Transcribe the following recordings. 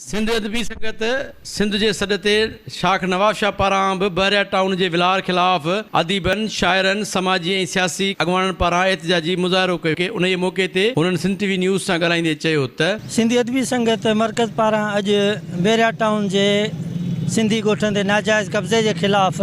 سنڌ ادبي سنگت سنڌ جي سڏ تي شاخ نواب شاهه پاران به بحريا ٽائون جي ولار خلاف اديبن، شاعرن، سماجي ۽ سياسي اڳواڻن پاران احتجاجي مظاهرو ڪيو ويو. انهيء موقعي تي هنن سنڌ ٽي وي نيوز سان ڳالهائيندي چيو ته. سنڌ ادبي سنگت مرڪز پاران اڄ بحريا ٽائون جي سنڌي ڳوٺن تي ناجائز قبضي جي خلاف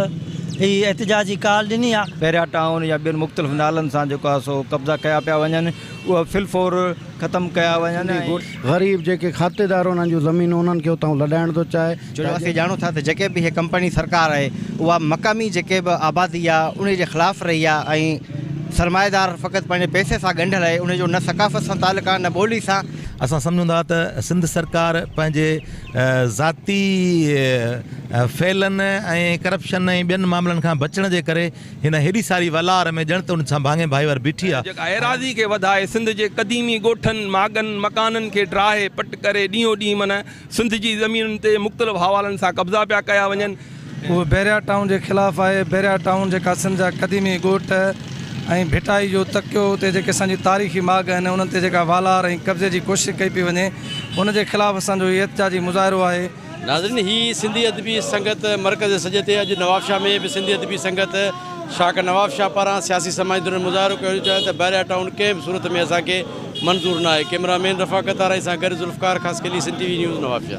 هي احتجاجي ڪال ڏني آهي. بحريا ٽائون يا ٻين مختلف نالن سان جيڪو آهي سو قبضا ڪيا پيا وڃن اهي في الفور. ختم ڪيا وڃن ۽ غريب جيڪي کاتيدار انهن جون زمينون انهن کي اتان لڏائڻ ٿو چاهي ڇو جو اسين ڄاڻون ٿا ته جيڪي به هي ڪمپني سرڪار آهي اها مقامي جيڪي به آبادي آهي انهي جي خلاف رهي آهي ۽ سرمائيدار فقط پنهنجي پئسي سان ڳنڍيل آهي انهي جو نه ثقافت سان تعلق آهي نه ٻولي سان. اسان سمجهون ٿا ته سنڌ سرڪار پنهنجي ذاتي ڦيلن ۽ ڪرپشن ۽ ٻين معاملن کان بچڻ جي ڪري هن هيڏي ساري ولار ۾ ڄڻ ته ان سان ڀاڱي ڀائي وار بيٺي آ. جيڪا ايراضي کي وڌائي سنڌ جي قديمي ڳوٺن، ماڳن، مڪانن کي ڊاهي پٽ ڪري ڏينهون ڏينهن من سنڌ جي زمينن تي مختلف حوالن سان قبضا پيا ڪيا وڃن. اهو بحريا ٽائون جي خلاف آهي. بحريا ٽائون جيڪا سنڌ جا قديمي ڳوٺ ۽ ڀٽائي جو تڪيو اتي جيڪي اسان جي تاريخي ماڳ آهن انهن تي جيڪا والار ۽ قبضي جي ڪوشش ڪئي پئي وڃي ان جي خلاف اسان جو هي احتجاجي مظاهرو آهي. ناظرين هي سنڌي ادبي سنگت مرڪز سڄي تي اڄ نوابشاهه ۾ به سنڌي ادبي سنگت شاخ نوابشاهه پاران سياسي سماجي ڌرين مظاهرو ڪيو ويو چيائين ته بحريا ٽائون ڪنهن به صورت ۾ اسان کي منظور ناهي ڪيمرا مين رفاقت آرائي سان گڏ Zulfiqar Khaskheli Sindh T V news Nawabshah.